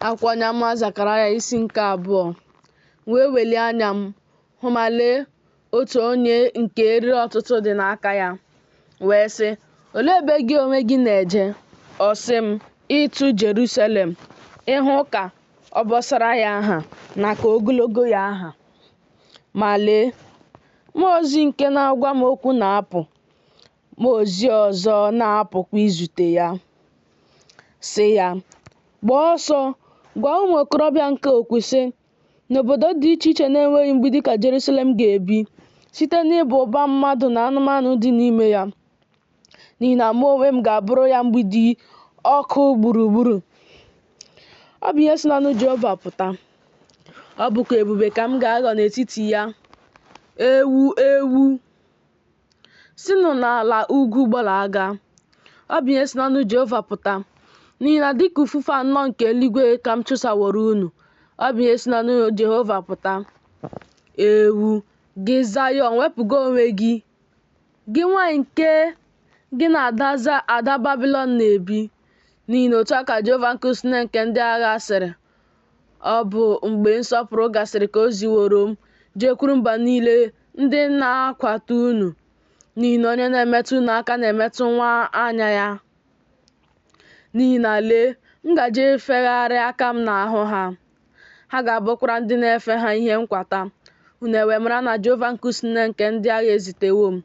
Akwụkwọ onye amụma Zekaraya isi nke abụọ M wee welie anya m hụ ma lee otu onye nke eriri ọtụtụ dị n'aka ya wee sị olee ebe gị onwe gị na-eje ọ sị m ịtụ Jerusalem ịhụ ka obosara ya ha na ka ogologo ya ha ma lee mmụọ ozi nke na-agwa m okwu na-apụ Mmụọ ozi ọzọ na-apụkwa izute ya, sị ya, Gbaa ọsọ, gwa nwa okorobịa nke a okwu, sị, N'obodo dị iche iche na-enweghị mgbidi ka Jerusalem ga-ebi, site n'ịba ụba mmadụ na anụmanụ dị n'ime ya, n'ihi na mụ onwe m ga-abụrụ ya mgbidi ọkụ gburugburu. Ọ bụ ihe si n'ọnụ Jehova pụta. Ọ bụkwa ebube ka m ga-aghọ n'etiti ya, ewu ewu. sinụ n'ala ugwu gbalaga. Ọ bụ ihe si n'ọnụ Jehova pụta. N'ihi na dịka ufufe anọ nke eluigwe ka m chụsaworo unu. Ọ bụ ihe si n'ọnụ Jehova pụta. Ewu, gị Zayọn, wepụga onwe gị. Gị nwaanyị nke gị na ada Babilọn na-ebi. N'ihi na otu a ka Jehova nke usuu niile nke ndị agha sịrị. Ọ bụ mgbe nsọpụrụ gasịrị ka o ziworo m jekwuru mba niile ndị na-akwata unu, n'ihi na onye na-emetụ unu aka na-emetụ nwa anya ya. N'ihi na lee, m gaje ifegharị aka m n'ahụ ha, ha ga-abụkwara ndị na-efe ha ihe nkwata. Unu ewee mara na Jehova nke usuu niile nke ndị agha ezitewo m.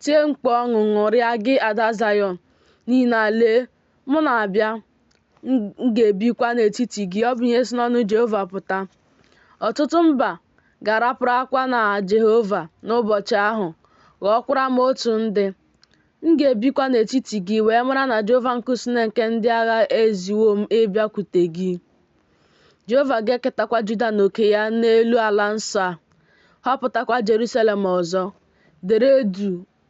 Tie mkpu ọṅụ, ṅụrịa, gị ada Zayọn, n'ihi na lee, Mụ na-abịa, m ga-ebikwa n'etiti gị. Ọ bụ ihe si n'ọnụ Jehova pụta. Ọtụtụ mba ga-araparakwa na Jehova n'ụbọchị ahụ, ghọọkwara m otu ndị. M ga-ebikwa n'etiti gị wee mara na Jehova nke usuu niile nke ndị agha eziwo m ịbịakwute gị. Jehova ga-eketakwa Juda na oke ya n'elu ala nsọ a, họpụtakwa Jerusalem ọzọ. Dere duu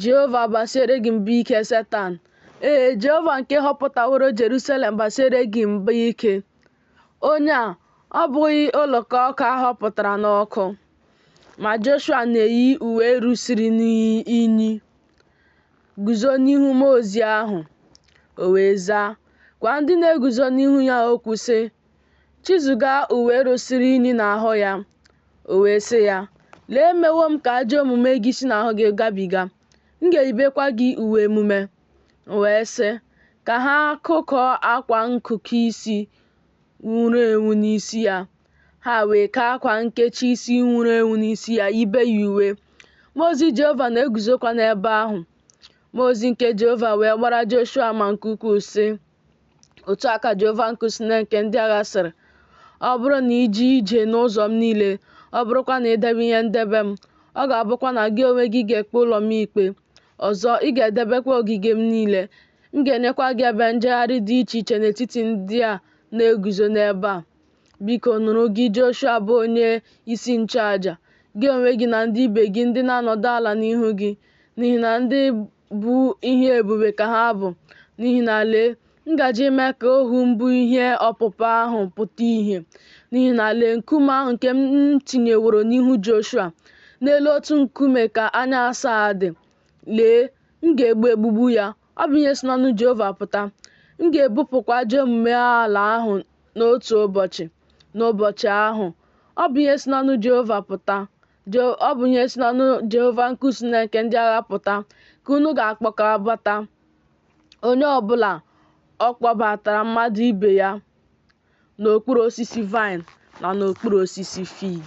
Jehova basiere gị mba ike Setan. Ee, Jehova nke họpụtaworo Jerusalem basiere gị mba ike. Onye a ọ bụghị oloko ọkụ a họpụtara n'ọkụ? Ma Joshua na-eyi uwe rusiri n'inyi guzo n'ihu mmụọ ozi ahụ. O wee zaa, gwa ndị na-eguzo n'ihu ya okwu sị, Chizuga uwe rusiri unyi n'ahụ ya, o wee sị ya, Lee emewo m ka ajọ omume gị si n'ahụ gị gabiga, m ga-eyibekwa gị uwe emume. O wee sị, Ka ha kụkọọ akwa nkụkọ isi nwuru enwu n'isi ya. Ha wee kee akwa nkechi isi nwuru enwu n'isi ya, yibe ya uwe. Mmụọ ozi Jehova na-eguzokwa n'ebe ahụ. Mmụọ ozi nke Jehova wee gbara Joshua ama nke ukwuu, sị, Otu a ka Jehova nke usu niile nke ndị agha sịrị, Ọ bụrụ na i jee ije n'ụzọ m niile, ọ bụrụkwa na i debe ihe ndebe m, ọ ga-abụkwa na gị onwe gị ga-ekpe ụlọ m ikpe. Ọzọ, ị ga-edebekwa ogige m niile. M ga-enyekwa gị ebe njegharị dị iche iche n'etiti ndị a na-eguzo n'ebe a. Biko nụrụ gị Joshua bụ onye isi nchụaja, gị onwe gị na ndị ibe gị ndị na-anọdụ ala n'ihu gị, n'ihi na ndị bụ ihe ebube ka ha bụ. N'ihi na lee, m gaje ime ka ohu m bụ ihe ọpụpụ ahụ pụta ihe. N'ihi na lee, nkume ahụ nke m tinyeworo n'ihu Joshua, n'elu otu nkume ka anya asaa dị. Lee, m ga-egbu egbugbu ya, Ọ bụ ihe si n'ọnụ Jehova pụta. M ga-ebupụkwa ajọ omume ala ahụ n'otu ụbọchị, n'ụbọchị ahụ. Ọ bụ ihe si n'ọnụ Jehova pụta. Ọ bụ ihe si n'ọnụ Jehova nke usu niile nke ndị agha pụta ka unu ga-akpọkọbata onye ọ bụla ọ kpọbatara mmadụ ibe ya n'okpuru osisi vaịn na n'okpuru osisi fig.